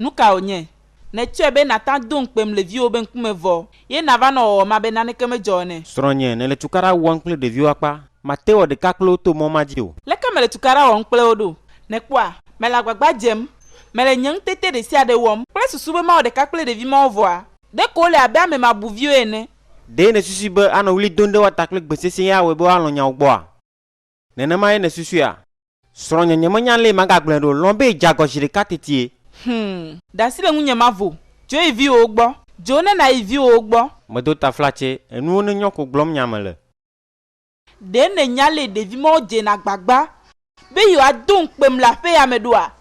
Nu ka wònye? Nètsɔe be nàte ŋu ado ŋukpem le viwò be ŋkume vɔ ye nàva nɔ wɔwɔm abe naneke medzɔ ene. Srɔ̃nye, nèle tukaɖa wɔm kple ɖeviwo akpa. Màte wɔ ɖeka kple wo to mɔ ma dzi o. Leke mele tukaɖa wɔm kple wo ɖo? Nèkpɔa? Mele agbagba dzem. Mele nye ŋutete ɖe sia ɖe wɔm. Kple susu be mawɔ ɖeka kple ɖevi mawo vɔa? Ɖeko wole abe ame mabuviwo ene. Ɖe nèsusui be anɔ ɣli dom ɖe woa ta kple gbe sesẽe ye awɔe be woalɔ̃ nyawò gbɔa? Nenemae nèsusua? Srɔ̃nye nyemenya lee magagblɔe ɖo, lɔ̃ be dze agɔ zi ɖeka tetie. Hum. Ɖe asi le ŋunye mavo. Dzo yi viwòwo gbɔ. Dzo ne nàyi viwòwo gbɔ. Medo taflatse, enuwo nenyɔ ko gblɔm nya mele. Ɖe nènya lee ɖevi mawo dzena agbagba be yewoado ŋukpem le aƒeya me ɖoa?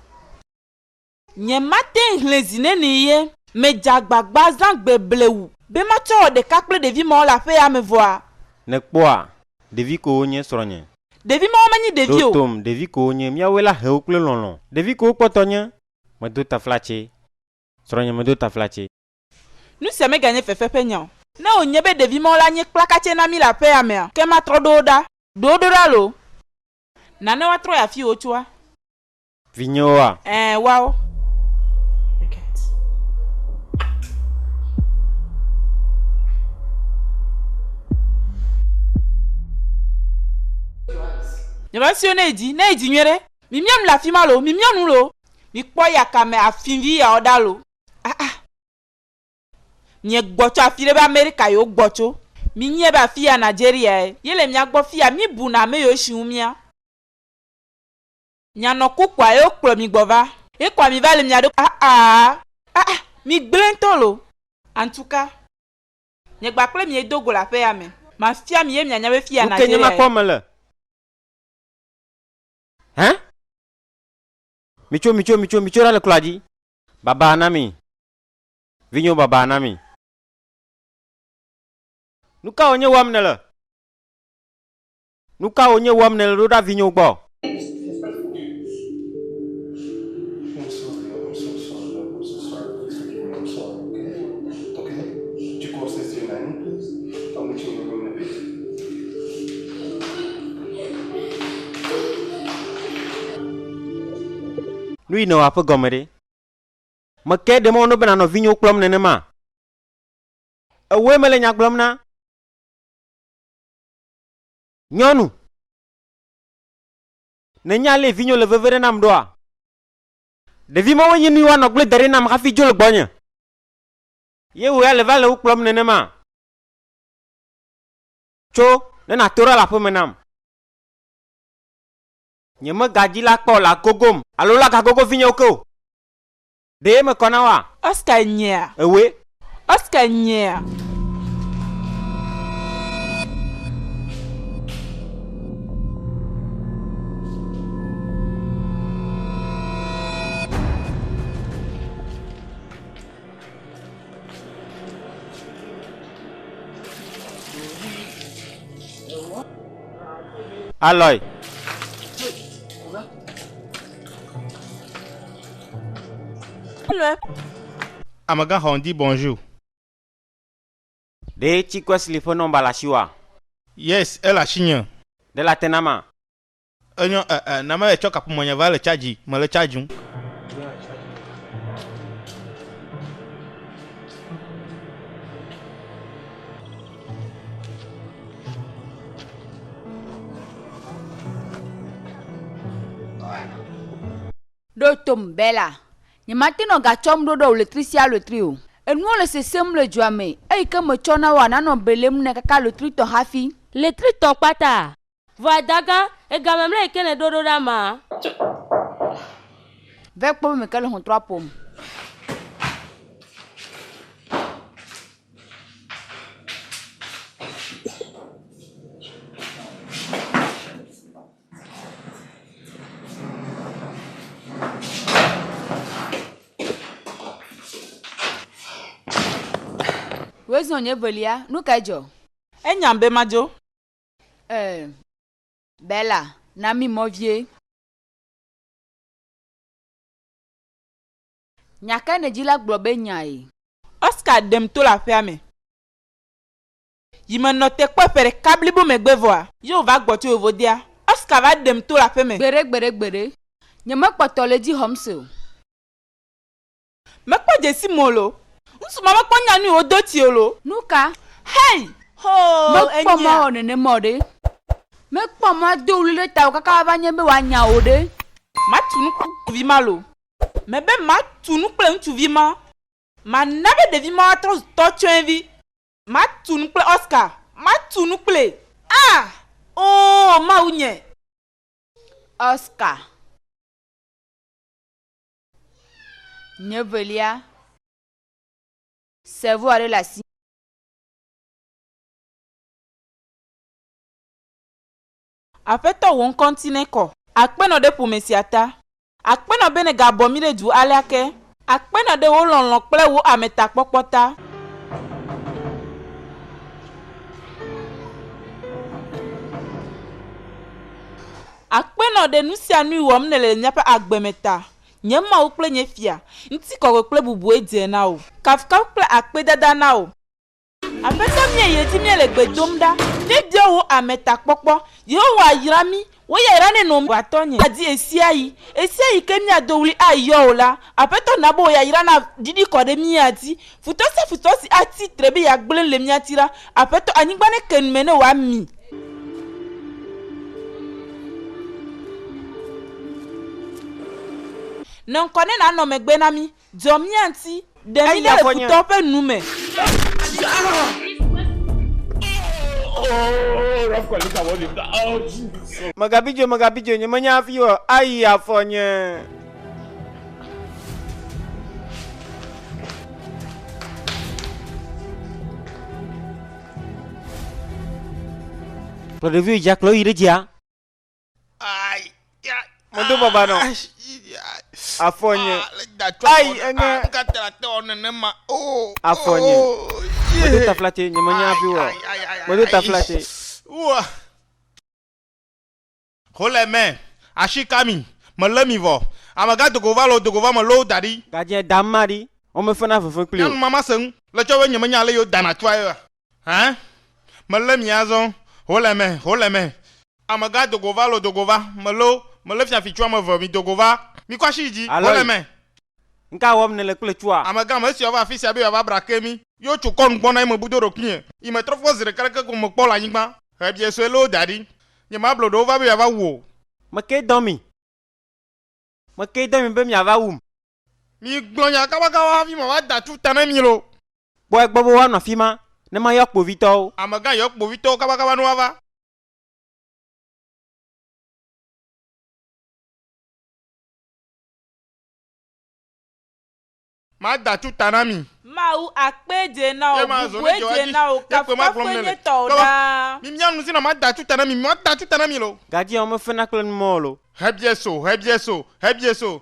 Nye mate ŋ xlẽ zi nɛnɛ ye. Medze agbagba zã gbe blewu. Be matsɔ wɔ ɖeka kple ɖevi mawo le aƒea me vɔa? Nèkpɔa? Ɖevi kowo nye srɔ̃nye. Ɖevi mawo menye ɖevi o. Ɖo tom, ɖevi kowo nye. Míawoe la he wo kple lɔlɔ̃. Ɖevi kowo kpɔtɔ nye. Medo taflatse. Srɔ̃nye medo taflatse. Nu sia meganye fefe ƒe nya o. Ne wònye be ɖevi mawo la nye kplakatse na mí le aƒea mea, ke matrɔ ɖo wo ɖa. Ɖo wo ɖo ɖa loo. Nane woatrɔ yi afi wotsoa. Vinyewoa? Ɛ̃, woawo. Nye va sio ne edzi, ne edzi nyuie ɖe. Mi mia nu le afima lo, mi mia nu lo. Mi kpɔ ya kame afinvi ya ɔɖa lo. Ah ah. Mie gbɔ tso afi ɖe be Amerika yo gbɔ tso. Mi nyie be afi ya Nigeria ye. Ye le mia gbɔ fi ya mi bu na ame yo shi wu mia. Mia nɔ ku kpoa ye wo kplɔ mi gbɔ va. Ye kpoa mi va le mia ɖo ah ah. Ah ah mi gblẽ ŋtɔ lo. Antuka. Nye gba kple mie do go le aƒe ya me. Ma fia mi ye mia nya be fi ya Nigeria ye. Nuke nye ma kpɔ me le. Hein. Mi tso mi tso mi tso mi tso ɖa le kloa dzi. Baba na mi. Vinyewo baba na mi. Nuka wɔ nye wɔm ne le. Nu ka wò nye wɔm nèle ɖo ɖa vinyo gbɔ? Nuyi nèwɔa ƒe gɔme ɖe? Meke ɖe mɔ no be nànɔ vinyo kplɔm nenema? Ewɔe mele nya gblɔm na. Nyɔnu. Nènya ale vinyo le veve ɖe nam ɖoa? Ɖevi mawoe nye nuyi woanɔ agble daɖi nam hafi dzo le gbɔnye. Ye wò ya le va le wo kplɔm nenema? Tso, ne nàto ɖa le aƒeme nam. Nyemegadzi la kpɔ le agogom. Alo lagagogo vinyewo ke o. Ɖee mekɔ na woa? Oscar nyea? Ewoe. Oscar nyea? Aloy. Amegãxɔ ŋdi bonjour. Ɖe Cikwesli ƒe nɔmba le asiwòa? Yes, ele asinye. Ɖe late nama? Enyo eh eh, na mele tsɔ kaƒomɔ nye va le charge, mele chargeum. Ɖo tom, Bella. Nyemate nɔ gatsɔm ɖo ɖe ɣletri sia ɣletri o. Enuwo le sesẽm le dzoa me, eyi ke metsɔ na woa nanɔ belem ne kaka ɣletritɔ hafi. Ɣletritɔ kpata? Vɔ adagã, ega mamlɛ yi ke nèɖo ɖo ɖa maa? Vɛ kpɔ be meke le xɔtrɔa ƒom. Wezɔ nye velia, nu kae dzɔ? Enyam be madzo. Ee, Bella, na mí mɔ vie. Nya kae nèdi la gblɔ be nyae? Oscar ɖem to le aƒea me. Yi menɔ te kpɔe ƒe ɖeka blibo megbe vɔa. Ye wòva gbɔ tso vovodea. Oscar va ɖem to le aƒe me. Gbeɖe gbeɖe gbeɖe. Nyemekpɔtɔ le edzi xɔm se o. Mekpɔ dzesim o lo. Ŋutsu ma mekpɔ nya nui wòdo ti o lo. Nuka? Hey! Hoo! Enyea? Mekpɔ mɔ awɔ nenem o ɖe. Mekpɔ mɔ ado ɣli ɖe tawò kaka wòava nye be wòanya wò ɖe. Matu nu kple ŋutsuvi ma lo. Mebe matu nu kple ŋutsuvi ma. Mana be ɖevi ma atrɔ zu tɔtsɔɛvi. Ma tu nu kple Oscar. Ma tu nu kplee. Ah! Oo Mawu nye. Oscar. Nye velia. Cerveau aɖe le asi. Aƒetɔ wò ŋkɔ ŋti nekɔ. Akpenɔ ɖe ƒome sia ta. Akpenɔ be nèga bɔ mí ɖe du alea ke. Akpenɔ ɖe wò lɔlɔ̃ kple wò ametakpɔkpɔ ta. Akpenɔ ɖe nusianui wɔm nèle le míaƒe agbe me ta. Nye Mawu kple nye Fia, ŋtikɔkɔe kple bubue dze na wò. Kafukaf kple akpedada na wò. Aƒetɔ míae ye di míele gbe dom ɖa. Míebiɔ wò ame ta kpɔkpɔ. Yehowa yra mí. Wò ya irane nɔ mí. Aƒetɔ nye adi ɣesiaɣi. Ɣesiaɣi ke míado ɣli ayɔ wò la, Aƒetɔ na be wò yayra na ɖiɖi kɔ ɖe mía dzi. Futɔ sia futɔ si atsi tre be yeagblẽ le mía ti la, Aƒetɔ, anyigba neke nu me ne wòami. Nɔ ŋkɔ ne nànɔ megbe na mí. Dzɔ mía ŋuti, ɖe mí ɖa le futɔwo ƒe nu me. Megabidzo, megabidzo, nyemenya hafi o, ayi afɔ nye. Kplɔ ɖeviwo yi dzia, kplɔ wo yi ɖe dzia. Modo baba nɔ. Afɔ nye. Ayi eŋe. Afɔ nye. Modo taflate nye menya afi wɔ. Modo taflate. Xole mɛ. Ashi kami. Mele mi vɔ. Amega dogo va lo dogo va me lo daɖi. Gadzɛ dama ɖi. Wome fena veve kpli o. Nyanu mama seŋ. Le tsɔ be nye menya ale yo dana tsua ye. Hã, melé mi azɔ, ho le eme, ho le eme. Amegã do go va lo do go va, melo, melé fiafitsu ame eve mi do go va, mikɔ asi yi dzi, ho le eme. Aloy, Ŋka wɔm nèle kple tsua? Amegã, Mesi wòava afisia be yeava bra ke mi. Yi wotso kɔ nugbɔ na yi mebu do ɖokuinye, yi metrɔ kpɔ zi ɖeka ɖeke ko mekpɔ le anyigba, ʋebiɛ sue loo daɖi. Nye mablo ɖewo va be yeava wu o. Mekee dɔ mi. Mekee dɔ mi be miava wum. Migblɔ nya kabakawo hafi mawada tu ta na mi loo. Kpɔ egbɔ be woanɔ afi ma ne mayɔ kpovitɔwo. Amegã yɔ kpovitɔwo kabakaba ne woava. Mada tu ta na mi. Mawu akpe dze na wò, bubue dze na wò, kafukafue nye tɔwò ɖaa. Mimia nu si na mada tu ta na mi, mada tu ta na mi loo. Gadziawo mefena kple numɔwo loo. Hebieso, hebieso, hebieso,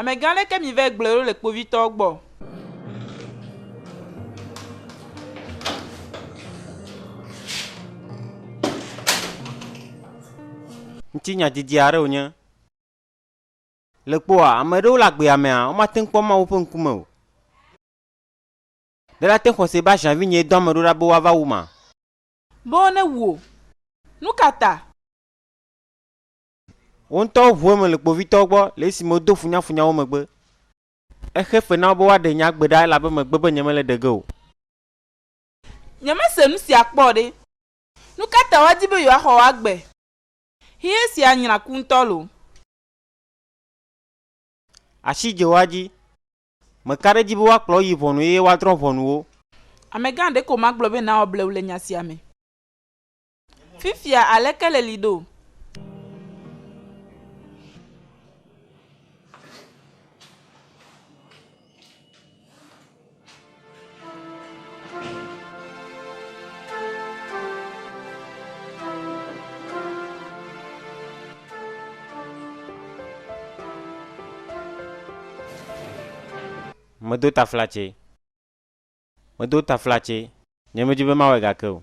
Amegã ɖe ke mi vɛ gblɔe ɖo le kpovitɔwo gbɔ. Ŋuti nya didi aɖe wònye. Le kpoa, ame aɖewo le agbea mea, womate ŋu kpɔ Mawu ƒe ŋkume o. Ɖe la te xɔse be aʒan vinyee dɔ ame ɖewo ɖa be woava wum a? Be wonewu o. Nukata? Wo ŋutɔwo ŋu eme le kpovitɔwo gbɔ le esime wodo funyafunya wo megbe. Exe fe na wo be woaɖe nye agbe ɖa elabe megbe be nyemele ɖe ge o. Nyemese nu sia kpɔ o ɖe! Nu ka ta woadi be yewoaxɔ wò agbe? Xexe sia nyra ku ŋutɔ loo! Asi dze wo adzi. Meka ɖe edzi be woakplɔ wo yi ʋɔnu eye woadrɔ̃ ʋɔnu wo. Amegã, ɖeko magblɔ be nàwɔ blewu le nya sia me. Fifia aleke le li ɖo? Medo taflatse. Medo taflatse. Nyemedi be mawɔe gake o.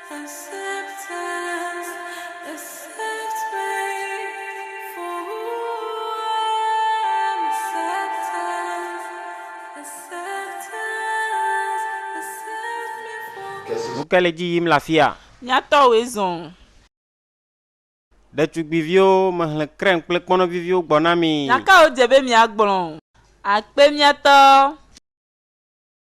Nu kae le edzi yim le afia? Nyatɔwoe zɔ o. Ɖetugbiviwo, mehlẽ krɛm kple kpɔnɔ viviwo gbɔ na mi. Nya kae wodze be miagblɔ? Akpe mía tɔ.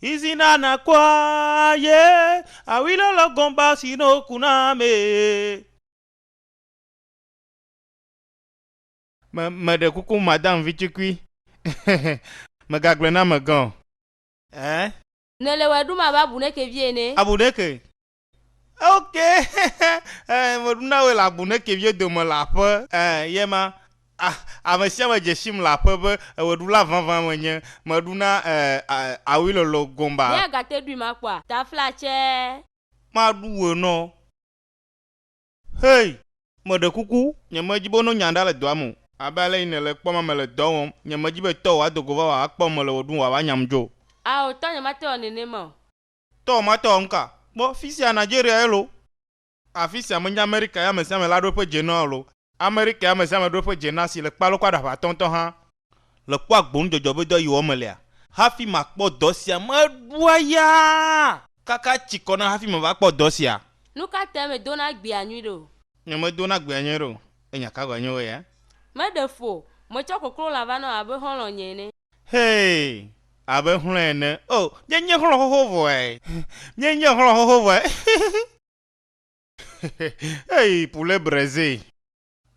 Izi na na kua ye awi lo lo gomba si no ku na me. Me meɖe kuku madam vitukui megagblɔe na ame gã o. Eh. Nele wɛ ɖum abe abu ɖeke vie ene. Abu ɖeke. Oke, eh, meɖu na wòe le agbo ne keviwo dome le aƒe, eh, ye ma. Ah, ame sia ame dze sim le aƒe be ewɔɖula vavã menye. Meɖu na, eh, ah, awui lɔlɔ gomba. Míagate ɖui ma kpɔa? Taflatsɛ. Maɖu wòe nɔ. Hei, meɖe kuku, nyemedi be no nya ɖa le dɔa me o. Abe ale yi nèle kpɔm ame le dɔ wɔm, nyemedi be tɔwò ado go va wòava kpɔm mele wɔ ɖum wòava nyam dzo o. Ao, tɔnye mate wɔ nenema o. Tɔ ma tɔ ŋka. Kpɔ fisia Nigeria ye lo. Afisia menye Amerika ye amesiame la ɖo eƒe dze na o lo. Amerika ye amesiame ɖo eƒe dze na si le kpalo kɔ aɖaƒe atɔ ŋtɔ hã. Le kpɔ agbo nudzɔdzɔ be dɔ yi wɔm melea. Hafi makpɔ dɔ sia meɖua yaa. Kaka tsi kɔ na hafi meva kpɔ dɔ sia. Nuka tae medo na gbea nyui ɖe o. Nye medo na gbea nyui ɖe o. Enya ka gɔe nye wo ya? Meɖe fu o. Metsɔ koklolã va na wò abe xɔlɔ̃nye ene. Hee! Abe xlɔ̃e ene. Oh, míenye xlɔ̃ xoxo vɔe. Míenye xlɔ̃ xoxo vɔe. Hey, poulet braisé.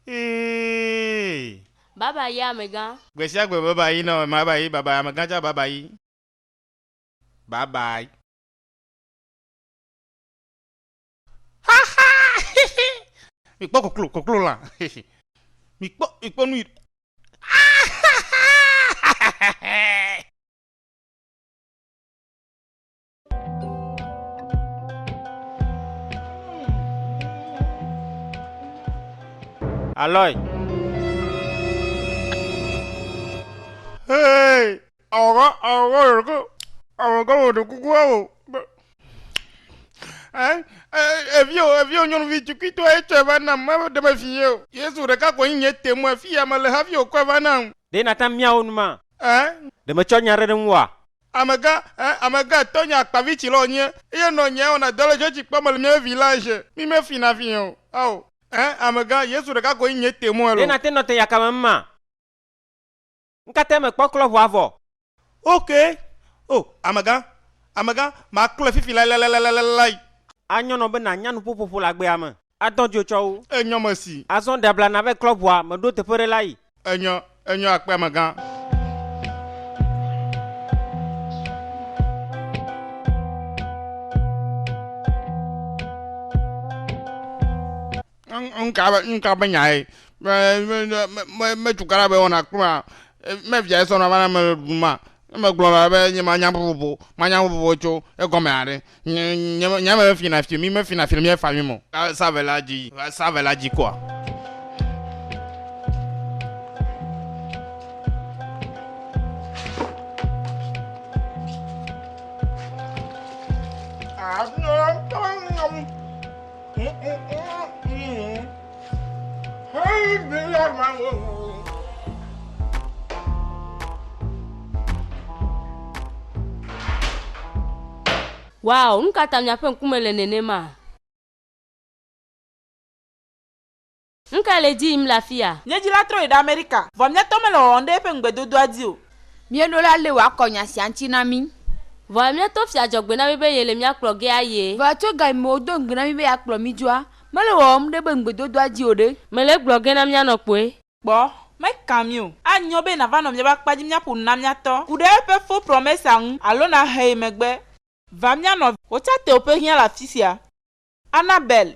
Hee! Baba yi amegã. Gbe sia gbe baba yi nɔ baba yi baba amegã tsa baba yi. Bye bye. mikpɔ koklo koklo lã mikpɔ mikpɔ nu Aloy. Hey! Awɔga, awɔga wò ɖokui, awɔga wò ɖe kuku awɔ be. Ɛ, ɛ, eviwo, eviwo nyɔnuvi tukuitɔ etsɔe va nam, mede mefi ye o. Yesu ɖeka koe nye te mu, afi ya mele hafi wòkɔe va nam. Ɖe nàte ŋu miawo nu ma? Ɛ. Ɖe metsɔ nya aɖe ɖe ŋu oa? Amegã, ɛ, amegã etɔ̃ nye akpavitsilɔ nye, eye nɔ nyea wɔna dɔ le dzɔdzikpɔ me le mía vevi la ʒe. Mi mefina fi o. Ao. Ɛ, amegã, Yesu ɖeka koe nye te mu, alo. Ɖe nàte ŋu nɔ te yakame ŋu ma? Ŋkate mekpɔ klɔ ʋua vɔ. Ok! O, amegã, amegã, maklɔe fifi lailailailailailai. Anyɔ nɔ be nànya nuƒoƒoƒo le agbea me. Adɔ dzo tsɔ wo. Enyɔ mesi. Azɔ ɖe abla nàve klɔ ʋua, meɖo teƒe ɖe la yi. Enyɔ, enyɔ akpe amegã. Nuka be nyae? Me cukaɖa be wɔna kplu ma? Me via esɔ na va na mele ɖuɖum ma? Ne me gblɔ na be nye ma nya vovovo, ma nya vovovo tso egɔme haɖe. Nye ame me fina fi mi, me fina fi mi fa mi mo. Sa ve la dzi, sa ve la dzi kɔa. Wow, nu ka ta miaƒe ŋkume le nenema? Nu kae le edzi yim le afia? Nye dzila trɔ yi ɖe Amerika, vɔ mía tɔ mele wɔwɔm ɖe eƒe ŋugbedodoa dzi o. Míeɖo la lé wòakɔ nya sia ŋuti na mí. Vɔ mía tɔ fia dzɔ gbe na mí be yele mía kplɔ ge aye. Vɔ tso ga yi me wòdo ŋugbe na mí be yeakplɔ mí dzoa, mele wɔwɔm ɖe eƒe ŋugbedodoa dzi o ɖe? Mele egblɔ ge na míanɔ kpoe. Kpɔ, meka mí o. Anyo be nàva nɔ míaƒe akpa dzi míaƒo nu na mía tɔ. Ku ɖe eƒe fo promesa ŋu alo nàhe yi megbe. Va mía nɔ. Wò tsã tewòƒe hiã le afisia. Annabelle.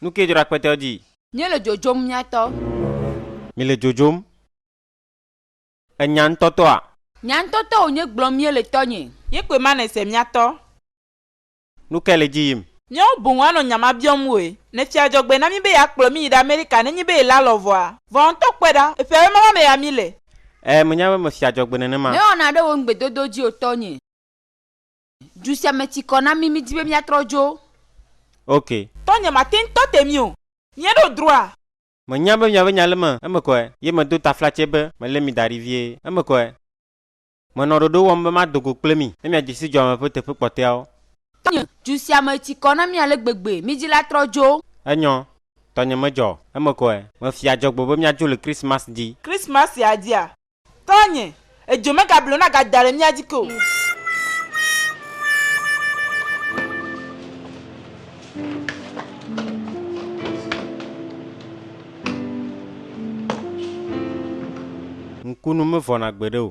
Nu ke dzro akpetɔ dzi. Mí le dzodzom mía tɔ. Mi le dzodzom. E nya ŋtɔ tɔ a? Nya ŋtɔ tɔ wònye gblɔm mí le tɔ nye. Ye kpoe ma ne se mía tɔ. Nu ke le dzi yim. Míawo boŋ anɔ nya ma biɔm woe. Ne fia dzɔgbe na mí be ya kplɔ mí yi ɖe Amerika ne nyi be yela lɔ vɔ a? Vɔ a ŋtɔ kpɔe ɖa. Eƒe awe ma ma me ya mí le. E me nya be me fia dzɔgbe nenema. Mewɔna ɖe wò ŋgbedodo dzi o tɔ nye. Du sia me ti kɔ na mí, mídi be míatrɔ dzo. Ok. Tɔnye mate ŋu tɔ te mí o. Míeɖo droit. Menya be miabe nya le me, eme kɔe, ye medo taflatse be melé mi da ɖi vie, eme kɔe. Menɔ ɖoɖo wɔm be mado go kple mi ne miadze si dzuame ƒe teƒe kpɔtɔeawo. Tɔnye, du sia me ti kɔ na mí ale gbegbe, mídi la trɔ dzo. Enyɔ, tɔnye medzɔ, eme kɔe. Mefia adzɔgbe be míadzo le Kristmas di. Kristmas sia dia, Tɔnye, edzo megablo nagada ɖe mía dzi ke o. Ŋkunu mevɔna gbeɖe o.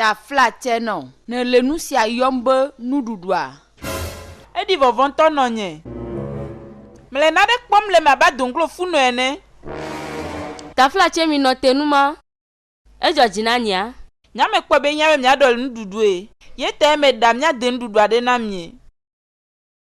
Ta fla tse nɔ. Ne le nu sia yɔm be nuɖuɖua. Eɖi vɔvɔ̃ ŋutɔ nɔ nye. Mele naɖe kpɔm le eme abe adoŋklo funɔ ene. Ta fla tse mi nɔ te nu ma. Edzɔ dzi na nyea. Nya me kpɔe be nyea be mia ɖɔ le nuɖuɖue. Ye ta ye me ɖa mia de nuɖuɖua ɖe na mie.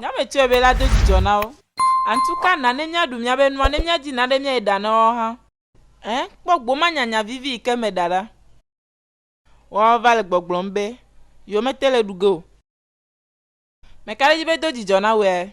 Nyame tsɔe be la do dzidzɔ na wo. Antu ka na ne mia ɖu mia be nua ne mia dzi na ɖe mia yi ɖa na wo hã. Ẽ, kpɔ gboma nyanya vivi yi ke me ɖa ɖa. Woa va le gbɔgblɔm be, Yo me te le ɖu ge o. Meka ɖe edzi be do dzidzɔ na woe.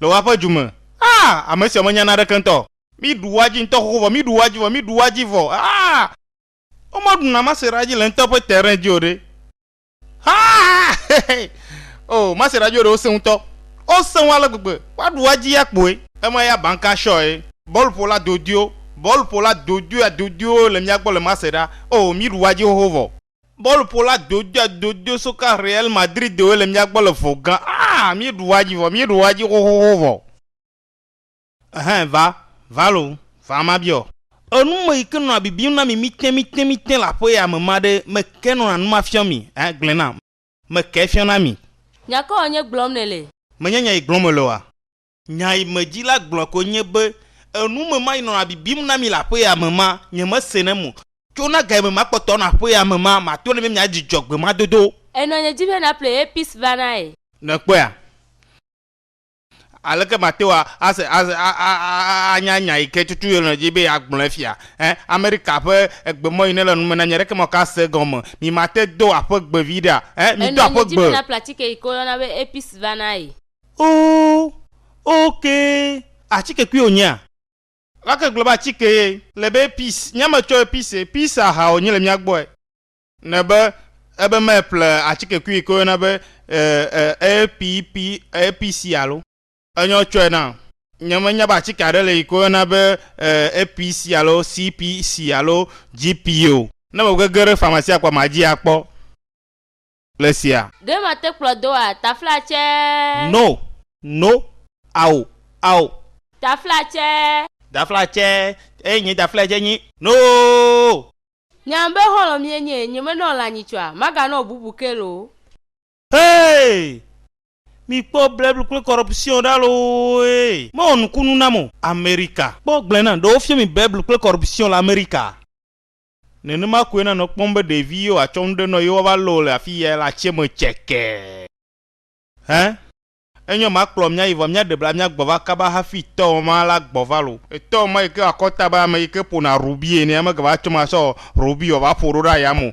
Le woaƒe du me. Aa! Ame sia menya naneke ŋutɔ. Mí ɖu woa dzi ŋutɔ xoxo vɔ, mí ɖu woa dzi vɔ, mí ɖu woa dzi vɔ. Aa! Woma ɖu na Masera dzi le ŋutɔ ƒe terrain dzi o ɖe. Aa! Hehe! O, Masera dzi ɖewo sẽ ŋutɔ. Wo sẽ ŋu ale gbegbe. Woa ɖu woa dzi ya kpoe. Ema ya banka shɔe. Bɔluƒola dodoewo, bɔluƒola dodoea dodoewo le mía gbɔ le Masera. O, mí ɖu woa dzi xoxo vɔ. Bɔluƒola dodoadodo soka Real Madridwoe le mía gbɔ le vɔ gã. Ah! Míeɖu edzi vɔ, míeɖu edzi xoxoxo vɔ. Ɛhɛ, va, va lo, va mabiɔ. Enu me yi ke nɔna bibim na mi mítɛmítɛmítɛ le aƒe ya me ma ɖe, meke nɔna nu ma fiɔm mi? Ɛhɛ, gblɔe nam. Meke fiɔna mi? Nya kawoe nye gblɔm nèle? Menye nya yi gblɔm mele oa? Nya yi me dzi la gblɔ koe nye be enu me ma yi nɔna bibim na mi le aƒea me ma, nyemesenɛ mo. Tso na ga yi me ma kpɔtɔ nɔ aƒea me ma, mato ne be mia dzi dzɔ gbe ma dodo. Enɔ nye dzi be na ple Apis va na ye. Ne kpɔea, aleke mate ŋu ase, ase, a, a, a, a, anya nya yi ke tutu yele dzi be yeagblɔe fia? Ẽ, Amerika ƒe egbemɔ yi nele nu me na nye ɖeke ma ka se gɔme. Mi mate do aƒe gbe viɖea? Ẽ, mi do Enɔ nye aƒe dzi be gbe. na ple atike yi ke woyɔna be Apis va na ye. Oo, ok, atike kui wònyea? Lake gblɔ be atike ye. Le be pis, nye me tsɔe pis ye, pis aha wònye le mía gbɔe. Ne be ebe me ple atike kui yi ke woyɔna be e, e, pi, pi, e, pi si alo. Enyɔ tsɔe na. Nye me nya be atike aɖe le yi ke woyɔna be e, e, pi si alo si, pi, si alo ji, pi o. Ne me gege ɖe famasia kpɔa ma dzi akpɔ. le sia. Ɖe mate kplɔ doa? Taflatsɛɛ. No, no, ao, ao. Taflatsɛɛ. Daflatsɛɛ, eye nye daflatsɛ nyi No! Nyam be xɔlɔ̃ mie nye, nyemenɔ lã nyitsɔa, maganɔ bubu ke loo. Hee! Mikpɔ bleble kple corruption ɖa looe! Mewɔ nukunu nam o. Amerika, kpɔ gblẽ nam, ɖe wofiɔ mi bleble kple corruption le Amerika? Nenema koe nanɔ kpɔm be ɖevi yewo atsɔ nu ɖe nɔ yewo ava lɔ wo le afi yae le atsiɛ me cɛkɛɛ. Hɛn. Enyɔ ma kplɔ mía yi vɔ mía ɖe bla mía gbɔ va kaba hafi tɔ ma la gbɔ va lo. Etɔ ma yi ke akɔta be ame yi ke ƒona rubi ene amegava tsɔ ma sɔ rubi wɔ va ƒo ɖo ɖe aya me o.